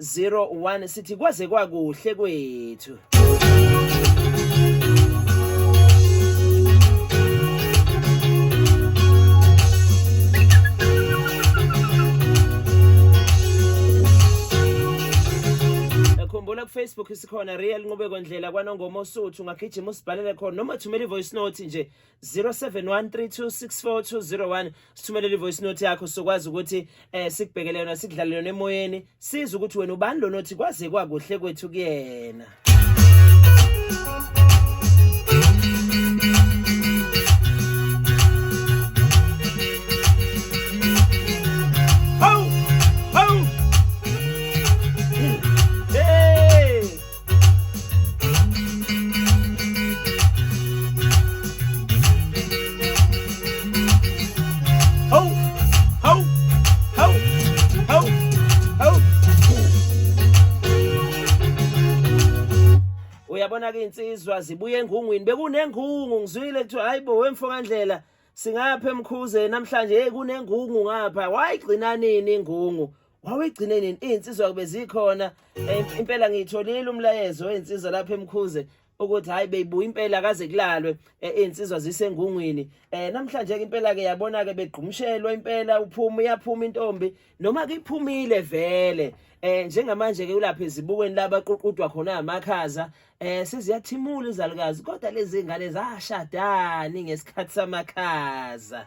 01 sithi kwaze kwakuhle kwethu khumbula kufacebook isikhona real nqubeko ndlela kwanongoma osuthu ungagijima usibhalele khona noma thumela i-voice note nje 0713264201 sithumelele ivoice note yakho sokwazi ukuthi eh sikubhekele yona sikudlalele yona emoyeni siza ukuthi wena ubani lo nothi kwaze kwakuhle kwethu kuyena uyabona-ke iy'nsizwa zibuye engungwini bekunengungu ngizwile kuthiwa hhayi bo wemfo kandlela singapha emkhuze namhlanje yeyi kunengungu ngapha wayigcina nini ingungu wawegcine nini iy'nsizwa kube zikhona eh, impela ngiyitholile umlayezo wey'nsizwa lapha emkhuze ukuthi hayi beyibuya impela kaze kulalwe eh, iy'nsizwa zisengungwini um namhlanje-ke impela-ke yabona-ke begqumshelwa impela uphuma uyaphuma intombi noma kuyiphumile vele um njengamanje-ke ulapha ezibukweni labaququdwa khona amakhaza Eh seziyathimula izalukazi kodwa lezi ngane zashadani ngesikhathi samakhaza.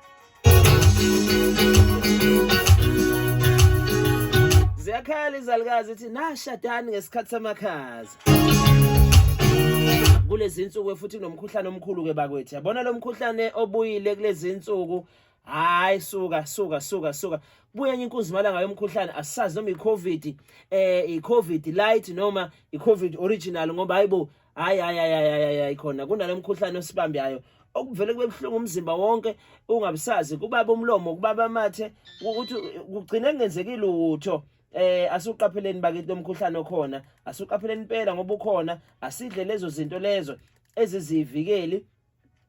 Ziyakhala izalukazi ithi nashadani ngesikhathi samakhaza. Kulezi insuku futhi kunomkhuhlane omkhulu ke bakwethu. Yabona lo mkhuhlane obuyile kulezi insuku hayi suka suka suka suka buya enye inkunzi malanga yomkhuhlane asazi noma icovid eh icovid light noma icovid original ngoba hayibo hayi hayi hayi hayi khona kunalemkhuhlane osibambi yayo okuvele kube buhlungu umzimba wonke ungabusazi kubaba umlomo kubaba amathe ukuthi kugcine kungenzeki lutho eh asuqapheleni bakithi lomkhuhlane okhona asuqapheleni impela ngoba ukhona asidle lezo zinto lezo ezizivikeli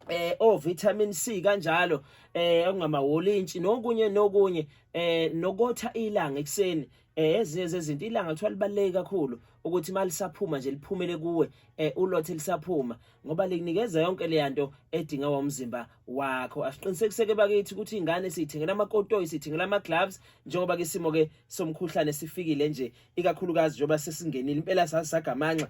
eh o vitamin C kanjalo eh okungama wolintshi nokunye nokunye eh nokotha ilanga ekseni eh ezinye zezinto ilanga kuthiwa libaleke kakhulu ukuthi malisaphuma nje liphumele kuwe eh ulothe lisaphuma ngoba likunikeza yonke le yanto edinga womzimba wakho asiqinisekiseke bakithi ukuthi ingane siyithengela amakotoyi siyithengela ama gloves njengoba ke simo ke somkhuhlane sifikile nje ikakhulukazi njengoba sesingenile impela sasaga amanxa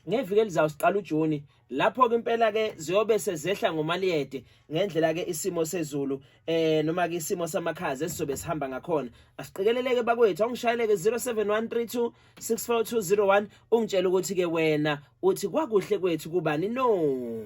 ngeviki elizayo siqala uJuni lapho ke impela ke ziyobe sezehla ngomaliyede ngendlela ke isimo sezulu eh noma ke isimo samakhaza esizobe sihamba ngakhona asiqikeleleke bakwethu awungishayeleke 0713264201 ungitshela ukuthi ke wena uthi kwakuhle kwethu kubani no